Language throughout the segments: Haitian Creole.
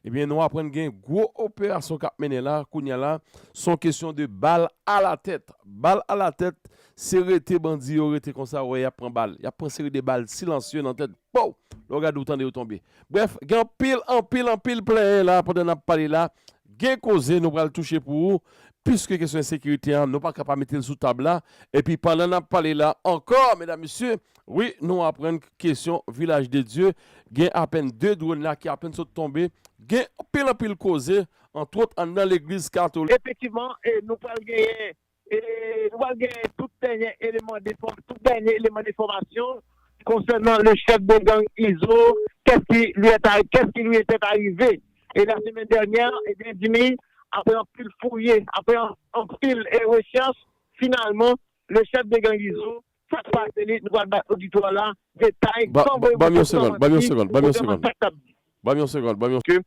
Ebyen nou aprann gen gwo operasyon kap mennen la kounya la son kesyon de bal ala tèt bal ala tèt se rete bandi yo rete konsa ou wè yap pran bal yap pran seri de bal silansye nan tèt pow lè ou gade ou tande yo tonbe brèf gen anpil anpil anpil plenyen la pandan nap pale la gen koze nou pral touche pou ou piske kesyon ensekirite an nou paka pa metel sou tab la epi pandan nap pale la ankò medam mesye Wi nou aprann k kesyon vilaj de Dye gen apèn 2 dronn la ki apèn sot tonbe gen anpil anpil koze antwot anndan legliz kato. Efektivman e nou pral genyen e nou pral genyen tout dènyè eleman de fòm tout dènyè eleman de fòmasyon konsènan le chèf de gang Izo kès ki li èt a kès ki li èt a rive e la semèn dènyè ebyen Dimi aprè anpil fouye aprè anpil e rechèch finalman le chèf de gang Izo Sak pase li nou pral bay oditwa la detay san voye moto san manti pou kote man sak kap di. Banm yon segond banm yon. Ke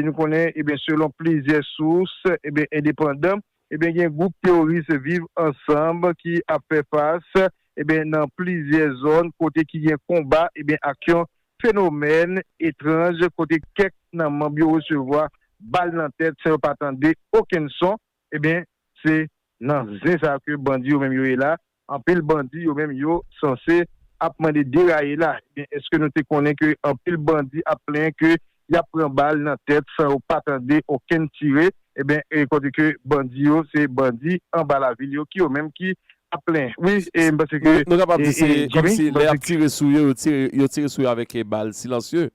nou konnen ebyen selon plizyè sous ebyen endepandan ebyen gen gwoup teworis viv ansanm ki ap fè fas ebyen nan plizyè zòn kote ki gen konba ebyen ak yon fenomèn etranj kote kèk nan manb yo resevwa bal nan tèt san yo pa tande okenn son ebyen se nan zen sa ke bandi yo menm yo ye la Anpil bandi yo menm yo sanse ap mande deraye la ebyen eske nou te konnen ke anpil bandi ap plenyen ke yap pran bal nan tèt san yo pa tande okenn tire ebyen e kote ke bandi yo se bandi anba lavil yo ki yo menm ki ap plenyen wi e m panse ke Nou kapab di se Jimmy kòmsi m lè panse yap ke. tire sou yo yo tire yo tire sou yo avèk bal silansye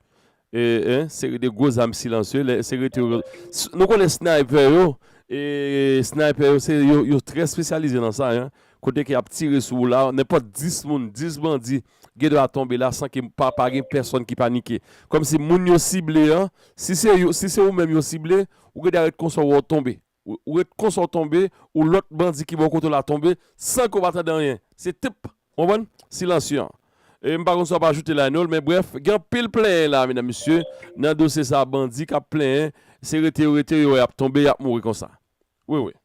Yon seri de gwo zam silansye, lè se rete yo, nou konnen snaypè yo, snaypè yo se yo, yo trè spesyalize nan sa, kote ke y ap tire sou ou la, nenpòt 10 moun, 10 bandi gen dwa tonbe la san ke pa gen pèsòn ki panike. Kòmsi moun yo sible an, si se yo, si se ou menm yo sible, ou gen dwa ret konsa ou wè ou tonbe. Ou ret konsa ou tonbe, ou lòt bandi ki bò kote w la tonbe san ke w pa tande anyen. Se tip, ou konprann, silansye an. E m pa konn sa w ap ajoute la Enol, men brèf, gen anpil plenyen la medam mesye, nan dosye sa bandi k ap plenyen, se rete yo rete, yo wè y ap tonbe, y ap mouri konsa. Wi wi.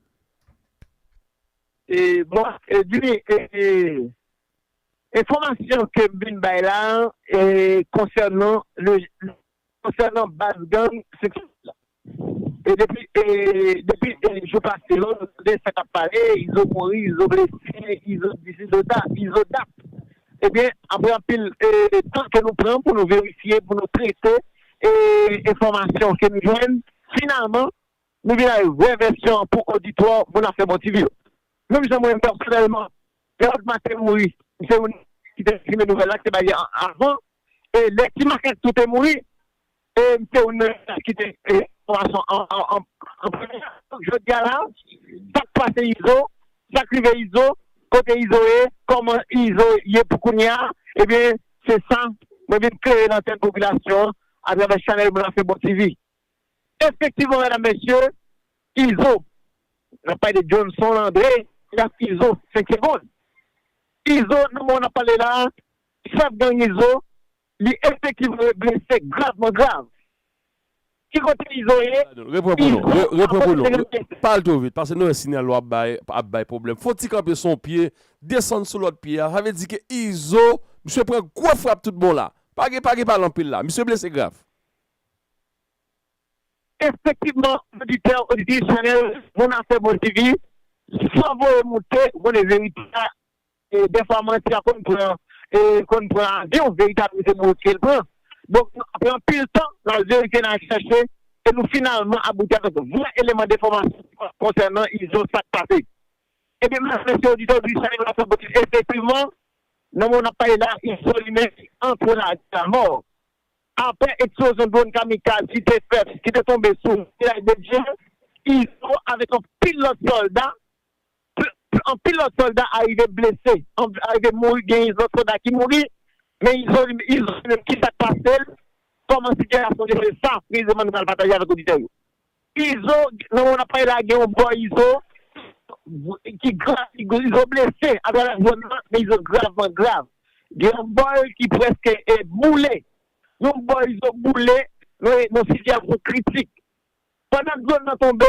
E bon, Edwin, e enfòmasyon ke m vin bay la e konsènan le, konsènan baz gang seksyon 8 la. E depi depi jou pase yo nou tande sa k ap pale izo mouri izo blese izo di si izo sa izo dat ebyen apre anpil tan ke nou pran pou nou verifye pou nou trete e enfòmasyon ke nou jwenn finalman nou vin avèk vrè vèsyon an pou oditwa moun afè bon ti vi yo menm jan mwen pèsonèlman lè Rod Martin mouri m se youn ki te konfime nouvèl la ki te bay li avan e lè Timakak tou te mouri E se ou menm ki te gen enfòmasyon an premye. Donk jodia la sak pase Izo, sak rive Izo, kote Izo ye, kòman Izo ye pou kounya ebyen se sa mwen vin klere nan tèt popilasyon an atravè chanèl mwen Afebon TV. Efektivman medam mesye Izo, nap pale de Johnson Andre ki ap Izo 5 segond. Izo nan moman nap pale la chèf gang Izo Li efektivman e blese gravman grav. Ki kote Izo ye? Repran pou nou. Repran pou nou. Pale two vit. Pase nou wè sinyal ou ap bay ap bay pwoblèm. Fon ti kanpe sou yon pye, desann sou lòt pye a. Sa vle di ke Izo, misye pran gwo frap tout bon la. Pa gen pa gen pale anpil la. Misye blese grav. Efektivman, oditè, oditris Chanèl Moun Afè Bon TV, san voye moute, vole verite a, Dèfwa manti a konn pran konn pran avyon, verite a toujou se nan wout ke l pran. Donk nou pran anpil tan nan al verifye, nan al chèche e nou finalman abouti avèk vrè eleman denfòmasyon konsènan Izo, sa k pase. Ebyen medam mesye oditè odik Chanel Wap Fè Buzz efektivman nan moman n ap pale la Izo li menm li antre lavi e lamò aprè eksplozyon dwòn kamikaz ki te fèt ki te tonbe sou Vilaj de Dye Izo avèk anpil lòt sòlda Pl anpil lòt sòlda arive blese, arive mouri gen yn lòt sòlda ki mouri men izo li izo li menm kisak pasel kòman sitiyasyon li se sa preziman nou pral pataje avèk oditè yo izo nan moman nap pale la gen yon bò izo ki grav izo blese atravè zòn nan men izo gravman grav gen yon bòl ki prèske boule yon bò izo boule nan sitiyasyon kritik pandan dlon nan tonbe.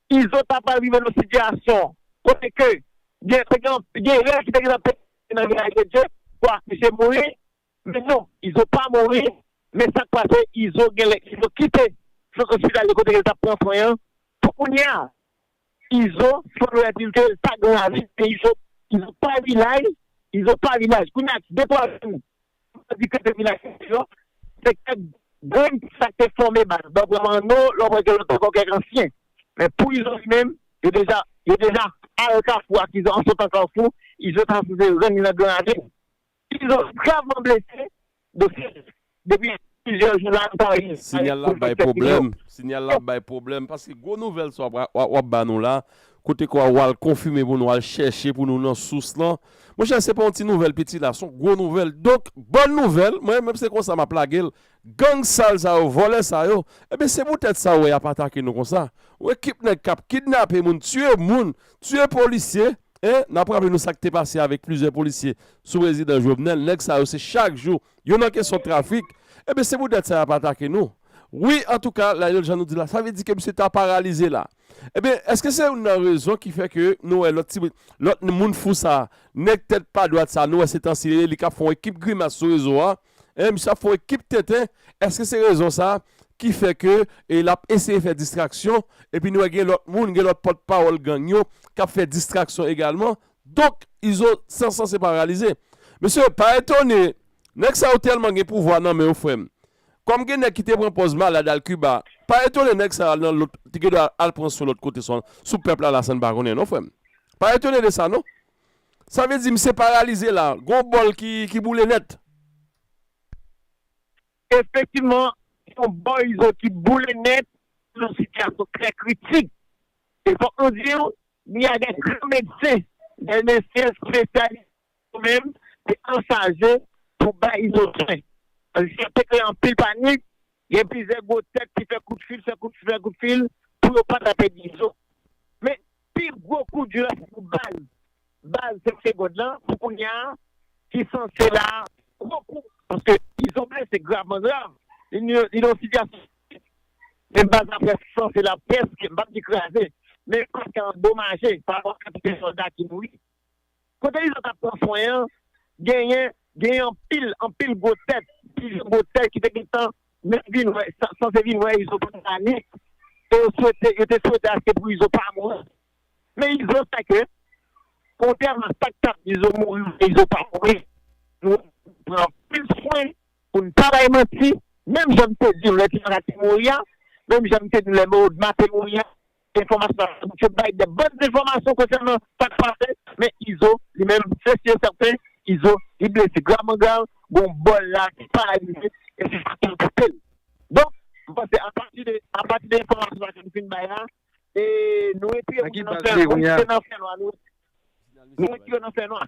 Izo ta pral rive nan yon sitiyasyon kote ke gen te gen gen rèl ki te gentan pete nan reyalite dje pou akouche mouri men non izo pa mouri men sak pase izo genlè izo kite sant ospitalier kote kel tap pran swen an pou kounya izo sembletil ke l pa gen lavi men izo izo pa vilaj izo pa vilaj kounya ak de twa jou Pou bandi ka te vin ak zam yo, se kèk grenn ki sa ki te fòme baz blan pran Manno, lè w wè gen lontan ankò kèk ansyen. Men pou Izo li menm, yo deja yo deja al Kafou ak Izo an sotan Kafou, Izo ta sipoze rann li nan Gran Ravin. Izo gravman blese, dosye depi Plizyè jou la m pa rive Sinyal la ap bay pwoblèm Sinyal la ap bay pwoblèm Paske gwo nouvèl sa w ap ba nou la Kote ke w al konfime pou nou Al chèche pou nou nan sous lan Monchè se pa yon ti nouvèl piti la Son gwo nouvèl Donk bòn nouvèl Mwen menm se konsa m ap lage l Gang sal sa yo Vòlè sa yo Ebyen se poutèt sa ou wè y ap atake nou konsa Yon ekip nèg k ap kidnape moun Tiye moun Tiye polisye N ap raple nou sa k te pase avèk plizyè polisye Sou prezidan Jovenel Nèg sa yo se chak jou Yo nan kesyon trafik. Ebyen se pou dèt sa yap atake nou wi antouka Lionel jan nou di la sa vle di ke misye ta paralize la ebyen eske se youn nan rezon ki fè ke nou wè lòt ti lòt moun fou sa nèg tèt pa dwat sa nou wè se tansi li ye li kap fè yon ekip grimas sou rezo a hein misye ap fè yon ekip tenten eske se rezon sa ki fè ke e lap eseye fè distraksyon epi nou wè gen lòt moun gen lòt pòt pawòl gang yo kap fè distraksyon egalman Donk izo san sans se pa reyalize. Mesye pa etone nèg sa yo tèlman gen pouvwa nan men yo frèm. Kòm gen nèg ki te pran pòz malad al Kiba, pa etone nèg sa yo al nan lòt te gen dwa al pran swen lòt kote san sou pèp la la sa n pa konnen non frèm. Pa etone de sa non. Sa vle di misye paralize la, gon bòl ki boule nèt. Efektivman gon bòl izo ki boule nèt nan sitiyasyon trè kritik. E fòk nou di w Ni a gen gran medsen, gen mesye espesyalite yo menm te anchaje pou bay izo swen. Paske sa te kreye anpil panik, gen plizyè gwo tèt ki fè kout fil, fè kout fil, fè kout fil pou yo pa ta pèdi izo. Men, pi gwo kou di la se pou baz, baz 5 segond lan pou kounya a ki sanse la gwo kou. Paske izo blese gravman grav, li nan yon sitiyasyon Se baz laprès san se laprès ki, m pa p di kraze, men kòk andomaje parapò ak kantite sòlda ki mouri. Kote li sot ap pran swen an, genyen genyen anpil anpil gwo tèt, plizyè gwo tèt ki te gen tan menm vin wè, sanse vin wè Izo pandan lane e yo swete, yo te swete aske pou Izo pa mouri. Men Izo sa ke, kontrèman a sa k t ap di Izo mouri oubyen Izo pa mouri, nou pran anpil swen. Pou n pa bay manti, menm jan m te di w lè Timarat te mouri a, menm jan m te di w lè Moodma te mouri a, enfòmasyon sa yo se bay de bon zenfòmasyon konsènan sa k pase, men Izo li menm se si e sèten Izo li blese grav man grav, gen yon bò l la ki paralize e se sa k anpeche l. Donk, m panse apati de apati de enfòmasyon sa ke nou fin bay la, e nou retire moun yo nan fènwa, nou retire yo nan fènwa.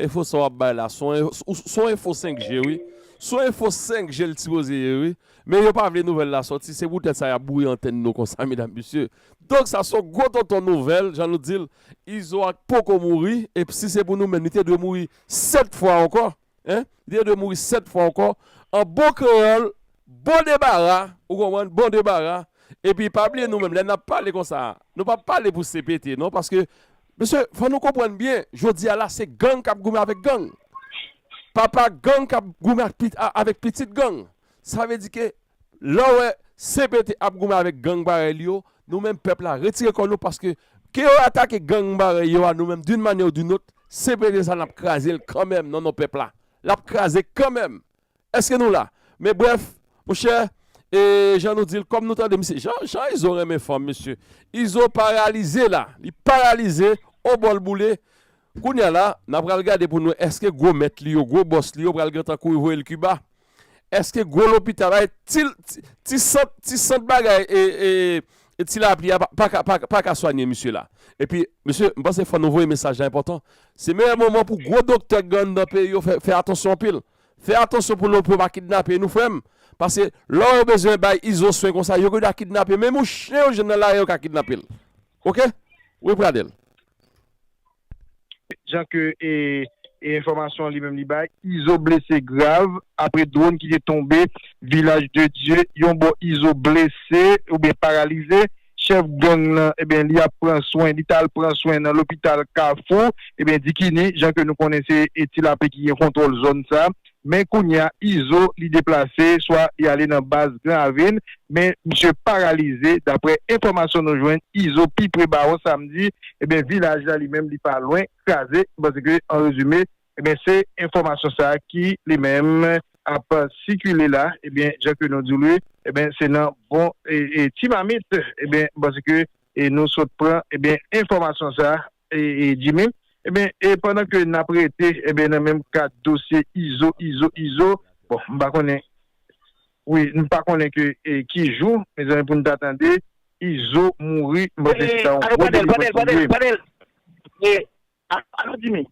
Enfo sa wap bay la son enfo 5 je wi son enfo 5 je l t sipoze ye wi men yo pa vle nouvèl la sòti se poutèt sa yap bouyi antèn nou konsa medam mesye donk sa son gwo tonton nouvèl jan nou dil izo ak poko mouri ep si se pou nou menm li te dwe mouri 7 fwa ankò hein li te dwe mouri 7 fwa ankò an bon kreyòl bon debara ou konprann bon debara epi pa bliye nou menm lè nap pale konsa nou pa pale pou CPT non paske Mesye fò nou konprann byen jodi a la se gang kap goumen avèk gang. Papa gang kap goumen avèk pitit gang. Sa vle di ke lè w wè CPT ap goumen avèk gang parèy li yo, nou menm pèp la retire kò nou paske ke yo atake gang parèy yo a nou menm d'une manière ou d'une autre, CPT sa nap kraze l kanmenm nan non pèp la. Lap kraze kanmenm Eske nou la? Men brèf, monchè, e jan nou di l, kòm nou tande misye, jan, jan Izo renmen fanm mesye. Izo paralize la, li paralize, o bòl boule. Kounye a la, n a pral gade pou n wè eske gwo mèt li yo, gwo bòs li yo pral gentan kouri voye l Kiba? Eske gwo lopital, ay, ti, ti sant, ti sant bagay e, e ti lapli a pa ka, pa ka, pa ka swanye misye la? Epi, mesye, m panse fò nou voye mesaj la enpòtan. Se meyè moman pou gwo doktè k gen anndan peyi yo fè, fè atansyon anpil. Fè atansyon pou lopyo pa kidnape nou frèm pase lè yo bezwen bay izo swen konsa yo geda kidnape menm yon chen yo jwenn nan lari yo ka kidnapel ok wi pradel. Jan ke enfòmasyon li menm li bay, Izo blese grav apre dronn ki te tonbe Vilaj de Dye yon bò Izo blese oubyen paralize. chèf gang lan ebyen li ap pran swen, li tal pran swen nan lopital kafou ebyen dikini jan ke nou konnen se ti lapli ki gen kontwòl zòn sa men kounya izo li deplase swa li ale nan baz gran avin men misye paralize daprè enfòmasyon nou jwenn izo pi pre bawon samdi ebyen vilaj la li menm li pa lwen kraze paske an rezime Ebyen se enfòmasyon sa ki li menm ap sikile la ebyen jan ke nou di w li ebyen se nan bon ti mamit ebyen paske nou sot pran ebyen enfòmasyon sa Jimmy ebyen e pandan ke nap rete ebyen nan menm kad dosye Izo Izo Izo bon m pa konnen wi m pa konnen ke ki jou mezanmi pou n ta tande Izo mouri m panse se ta yon gwo delivrans pou li. Alo Jimmy.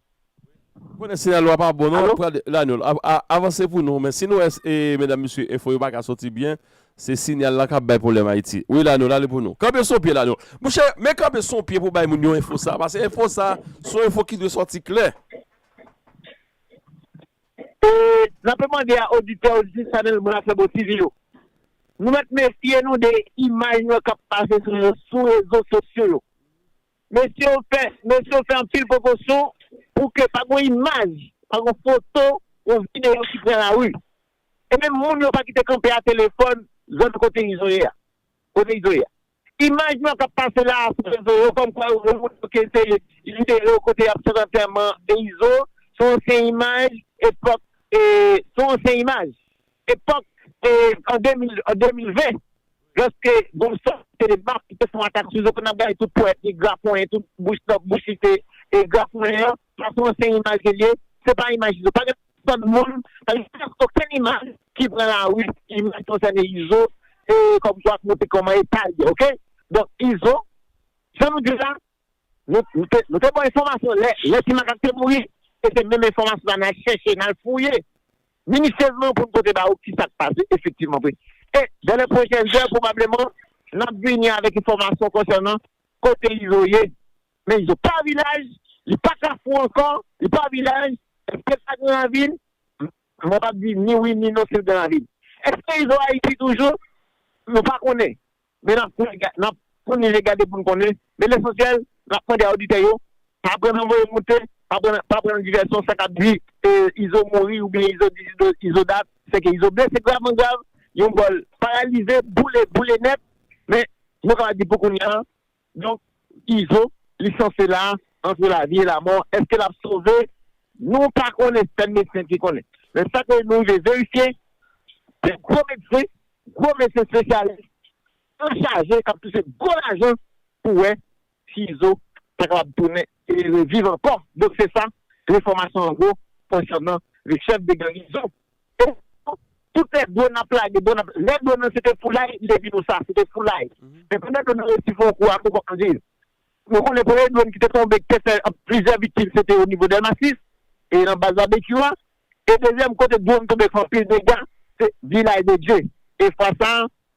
M konnen siyal ou a pa bon non ap pran de Lanyòl avanse pou nou men si nou wè e medam mesye enfo yo pa ka soti byen se siyal la kap bay pwoblèm Ayiti wi Lanyòl ale pou nou kanpe sou pye Lanyòl mouche men kanpe sou pye pou bay moun yo enfo sa pase enfo sa son enfo ki dwe sòti klè. E n ape mande a oditè oditris chanèl Mwen ak Fèbo TV yo nou mèt mefye nou de imaj nou yo kap pase sou rezo sosyo yo Mesye yo fè mesye yo fè anpil prekosyon pou ke pa gon imaj, pa gon foto, yon videyo ki pran lari. E menm moun yo pa kite kanpe a telefòn zòn kote Izo ye a. Kote Izo ye a. Imaj nou an k ap pase la a sou rezo yo kòmkwa yo wè moun yo ke se videyo kote y ap fè antèman e Izo se yon ansyen imaj epòk e se yon ansyen imaj. Epòk e an 2020 loske Gonçalves Célébat ki te fon atak sou Zokon ap gade tout pwèt li graponyen tout bouch lòk bouch li te e graponyen an fason ansyen imaj li ye se pa imaj Izo pa gen pèsòn moun pa gen prèsk okenn imaj ki pran lari ki imaj ki konsène Izo e kòmkwa ki montre kòman etal ye ok donk Izo jan nou di la Nou te ba w enfòmasyon lè Ti Makak te mouri e se menm enfòmasyon sa a n al chèche, n al fouye minisiezman pou n pote ba ou ki sa k pase efektivman vre. E dan lè pwochèn zè pwobableman n ap vini avèk enfòmasyon konsènan kote Izo ye. Men Izo pa vilaj, li pa Kafou ankò, li pa vilaj. Èske l pa Granravil? Mwen p ap di ni wi ni non si l Granravil. Èske Izo Ayiti toujou? Nou pa konnen. men nap pran li e gade pou n konnen, men lesansyèl nap mande a oditè yo pa pran nan voye moute, pa pran nan divèsyon sa kap di Izo mouri oubyen Izo di Izo dat, sèke Izo blese gravman grav, yon gòl paralize, boule, boule nèt, men nou kapab di pou kounya Donk izo li sanse la antre lavi e lamò eske lap sove nou pa konnen sèl medsen ki konnen men sa ke nou rive verifye se gwo medsen gwo medsen spesyalis anchaje kap touche gwo lajan pou wè si izo ta kapab tounen reviv ankò donk se sa refòmasyon an gwo konsènan le chèf de garnizon e pou tout lè dwon ap lage dwon ap lè dwon nan se te foulay li te di nou sa se te foulay men pandan dwon nan resi fè yon kou a kou kòk anviv nou konnen premye dwon ki te tonbe ki te fè plizyè viktim se te o nivo dèlma 6 e nan baz babekyou a e dezyèm kote dwon tonbe fè anpil dega se vilay de dye e fwa sa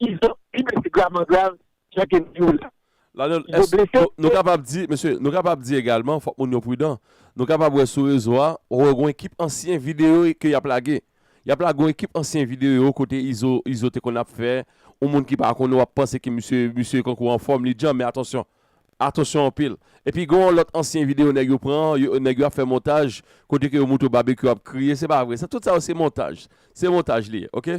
Izo pi blese gravman grav jan ke m di w la. La Lyon, Izo blese Èske nou kapab di, mesye, nou kapab di egalman, fòk moun yo pridan, nou kapab wè sou rezo a, ou wè gen yon ekip ansyen videyo ke y ap lage. Y ap lage yon ekip ansyen videyo kote Izo, Izo te konn ap fè, yon moun ki pa konnen w ap panse ke misye, misye kankou anfòm, li djanm, men atansyon, atansyon anpil. Epi gen yon lòt ansyen videyo nèg yo pran, yo, nèg yo ap fè montaj, kote ke yo montre w Babekyou ap kriye, se pa vre sa, tout sa yo se montaj, se montaj li ye, ok.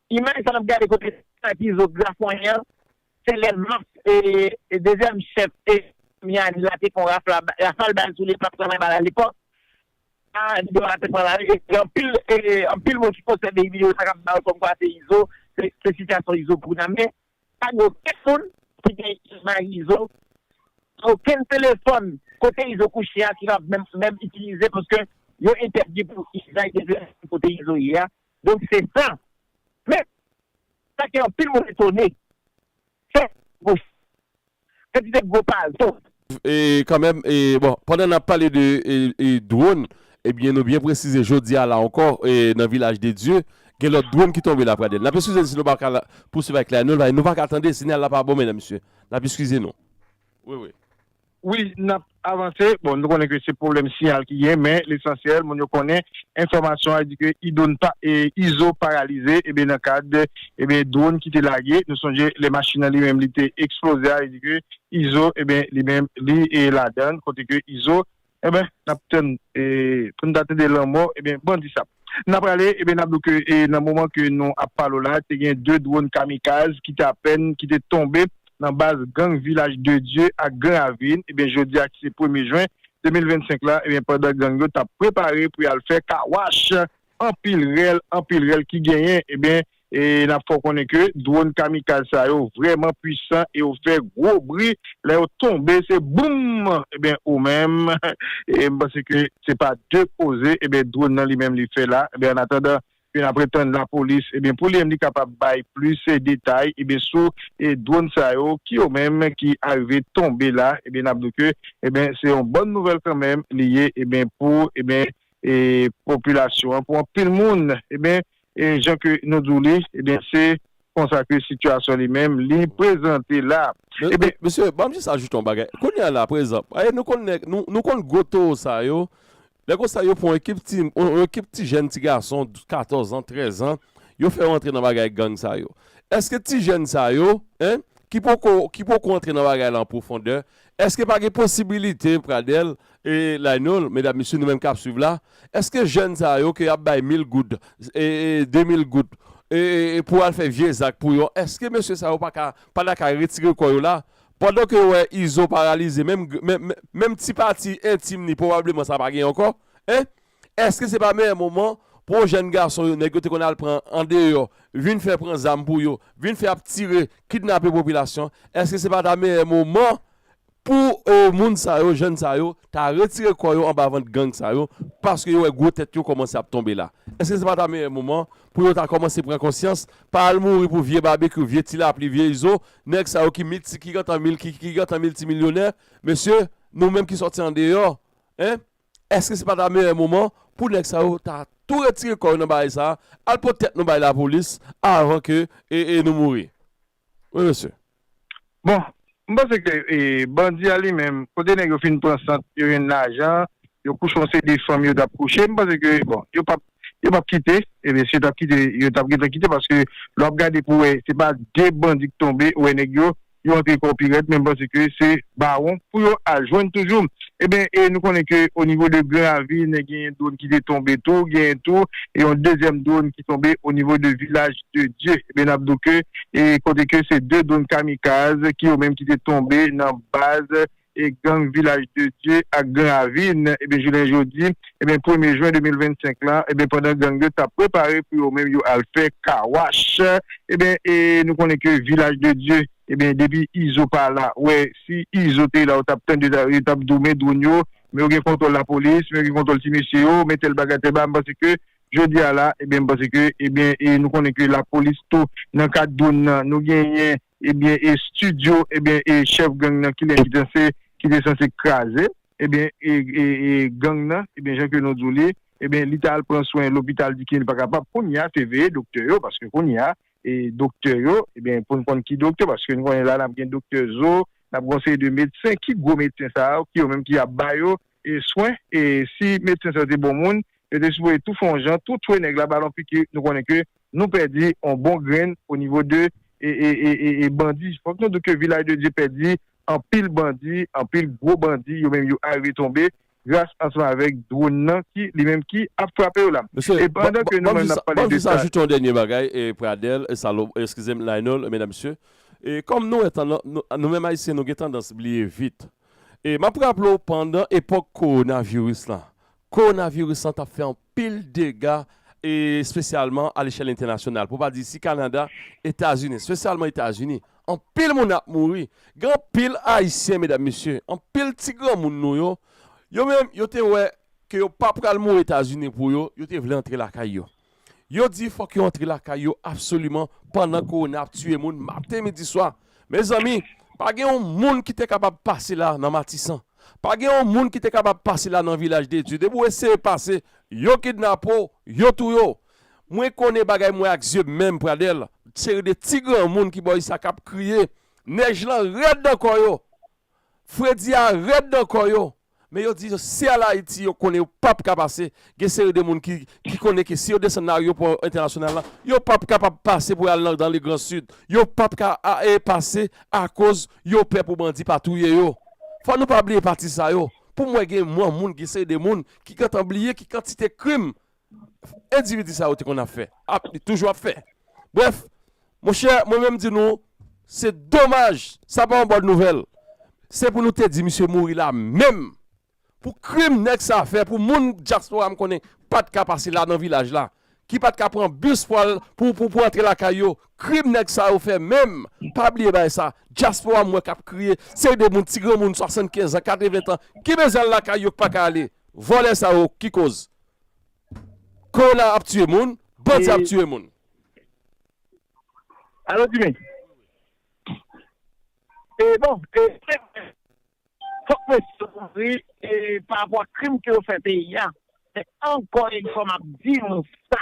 Imaj sa nap gade kote Sky Pizo grafonyen an se lè Max e dezyèm chèf e Miami la te fon rafal bal sou li epi lap travay bal alepòk sa video a te pran lari e gen anpil moun ki konsève video sa kap bay kòmkwa se Izo se sitiyasyon Izo pou kounya men pa gen okenn moun ki gen imaj Izo pa okenn telefòn kote Izo kouche a ki kap menm itilize paske yo entèdi pou Sky te vle kote Izo ye a Donk se sa. Men, sa ke anpil moun etone, se gwosi kantite gwo palto. E kanmenm, e bon, pandan nap pale de drone, ebyen nou byen presize jodi a la ankò nan Vilaj de Dye, gen lòt drone ki tonbe la Pradèn. Nap eskize n si nou pa ka pousuiv ak Claire Nolvain, nou pa ka tande, sinyal la pa bon medam mesye. Nap eskize nou. Wi wi. Wi nap avanse, bon nou konnen ke se pwoblèm siyal ki gen men lesansyèl moun yo konnen enfòmasyon a di ke idon pa izo paralize ebyen nan kad ebyen dwon ki te lage nou sonje lè machin an li menm li te eksploze a e di ke izo ebyen li menm li ladann kote ke izo ebyen nap tann e poun ta tande lanmò ebyen bandi sa. N ap rale, e n ap di w ke nan moman ke nou ap pale w la, te gen 2 dwòn kamikaz ki te apèn ki te tonbe nan baz gang Vilaj de Dye ak Gran Ravin, e byen jodi a ki se premye jwen 2025 la, e byen pandan gang yo t ap prepare pou y al fè car wash, anpil rèl, anpil rèl ki genyen, e byen E n ap fè w konnen ke dwòn kamikaz sa yo vrèman pwisan e yo fè gwo bri lè yo tonbe se boum ebyen ou menm e m panse ke se pa de koze ebyen dwòn nan li menm li fè la ebyen an atandan ke n ap etann lapolis ebyen pou li menm li kapab bay plis detay ebyen sou e dwòn sa yo ki yo menm ki arive tonbe la ebyen n ap di w ke ebyen se yon bòn nouvèl kanmenm li ye ebyen pou ebyen e popilasyon an pou anpil moun ebyen E jan ke nou di w li, ebyen se konsa ke sitiyasyon li menm li prezante la. Ebyen. Mesye, banm jis ajoute yon bagay. Kounye a la, prezanp, e nou konn nèg, nou konn gwo towo sa yo, lè konsa yo pran yon ekip ti, yon ekip ti jèn ti gason 14 an, 13 an, yo fè yo antre nan bagay gang sa yo. Eske ti jèn sa yo, hein, ki poko, ki poko antre nan bagay la an pwofondè, Eske pa gen posibilite Pradel e Lainol medam mesye nou menm kap swiv la eske jèn sa yo ke yap bay mil goud e 2 mil goud e pou al fè vye zak pou yo eske mesye sa yo pa ka pa ta ka retire kò yo la pandan ke yo wè Izo paralize menm menm ti pati entim li pwobableman sa pa gen ankò hein Eske se pa meyè moman pou jèn gason yo nèg yo te konn al pran andeyò vin fè pran zam pou yo vin fè ap tire kidnape popilasyon eske se pa ta meyè moman pou moun sa yo jèn sa yo ta retire kò yo anba vant gang sa yo paske yo wè gwo tèt yo kòmanse ap tonbe la eske se pa ta meyè moman pou yo ta kòmanse pran konsyans pa al mouri pou vye babekyou vye ti lapli vye izo nèg sa yo ki milti ki gentan mil ki gentan miltimilyonè mesye nou menm ki sòti andeyò hein Eske se pa ta meyè moman pou nèg sa yo ta tou retire kò yo nan bagay sa, al pot tèt nou bay lapolis avan ke nou mouri. Wi mesye. Bon, m panse ke bandi a li menm, kote nèg yo fin pran sant, yo jwenn lajan, yo kouche yon seri de fanm yo t ap kouche, m panse ke bon, yo p ap, yo p ap kite, e byen si yo t ap kite, yo t ap gentan kite paske lè w ap gade pou w wè se pa de bandi k tonbe, ou wè nèg yo. yo antre kò pi rèd men m panse ke se bawon pou yo al jwenn toujou eben e nou konnen ke o nivo de gran ravin genyen dwon ki te tonbe tou genyen tou yon dezyèm dwon ki tonbe o nivo de vilaj de dye eben nap do ke e kote ke se de dwon kamikaz ki yo menm ki te tonbe nan baz gang Vilaj de Dye ak Gran Ravin ebyen jounen jodi ebyen premye jwen 2025 la ebyen pandan gang yo tap prepare pou yo menm yo al fè kawach ebyen e nou konnen ke Vilaj de Dye ebyen depi Izo pa la wè si Izo te la ou tap tande yo tap di w men dronn yo men yo gen kontwòl lapolis men yo gen kontwòl ti mesye yo men tèl bagay tèl bagay m panse ke jodi a la ebyen m panse ke ebyen e nou konnen ke lapolis tou nan kad dronn nan nou genyen. Ebyen e studio ebyen e chef gang nan kilè ki danse ki te sanse kraze ebyen e e gang nan ebyen jan ke nou di w li ebyen li ta al pran swen lopital di ke li pa kapab kounye a se veye doktè yo paske kounye a e doktè yo ebyen pou n konn ki doktè paske nou konnen la n ap gen doktè zo n ap gen yon seri de medsen ki gwo medsen sa yo ki yo menm ki ap ba yo swen e si medsen sa yo te bon moun yo te sipoze tou fè yon jan tou tchwe nèg la bal yon piki nou konnen ke nou pèdi yon bon grenn o nivo de e bandi fòk nou di ke vilaj de dye pèdi anpil bandi anpil gwo bandi yo menm yo arive tonbe gras ansanm avèk dwonn nan ki li menm ki ap frape yo la Mesye e pandan ke nou banm menm jis nap pale banm de jis sa. ajoute yon dènye bagay e Pradel e Salo eskizem Lionel e medam mesye e kòm nou wè tan nou menm ayisyen nou gen tandans bliye vit E m ap raple w pandan epòk kowonaviris lan, kowonaviris lan t ap fè anpil dega e espesyalman alechèl entènasyonal pou pa di isi Kanada, Etazini, espesyalman Etazini, anpil moun ap mouri. Gen anpil Ayisyen, medam mesye, anpil ti granmoun nou yo, yo menm yo te wè ke yo pa pral mouri Etazini pou yo, yo te vle antre lakay yo. Yo di fok yo antre lakay yo absoliman pandan korona ap tiye moun maten midi swa mezanmi pa gen yon moun ki te kapab pase la nan matisan pa gen yon moun ki te kapab pase la nan vilaj de dye depi w eseye pase yo kidnape w yo touye w mwen konnen bagay mwen ak zye m menm pradel seri de ti granmoun ki bò usa kap kriye nèj lan rèd nan kò yo. Fredi a rèd nan kò yo, men yo di si al Ayiti yo konnen yo pap ka pase, gen seri de moun ki konnen ke si yo desann nan aryopò entènasyonal la, yo pap kapab pase pou al nan dan le gran sid, yo pap ka pase akoz yo pè pou bandi pa touye yo. Fò nou pa bliye pati sa yo, pou mwen gen moun, gen seri de moun ki gentan bliye ki kantite krim endividi sa yo te konn ap fè, ap li toujou ap fè. Brèf, monchè mwen menm di nou se domaj sa pa yon bòn nouvèl. Se pou nou te di misye mouri la menm pou krim nèg sa fè pou moun dyaspora m konnen pa t ka pase la nan vilaj la, ki pa t ka pran bis pou al pou pou antre lakay yo, krim nèg sa yo fè menm pa bliye bagay sa. Dyaspora m wè k ap kriye, seri de moun ti granmoun 75 an, 80 tan ki bezwen al lakay yo k pa ka ale. Vòlè sa yo ki koz Corona ap tiye moun, bandi ap tiye moun. Alo Jimmy. E bon, e se vre. Fok mwen sot mwen ri e pa rapò ak krim ke yo fè peyi a. Men ankò yon fwa map di nou sa.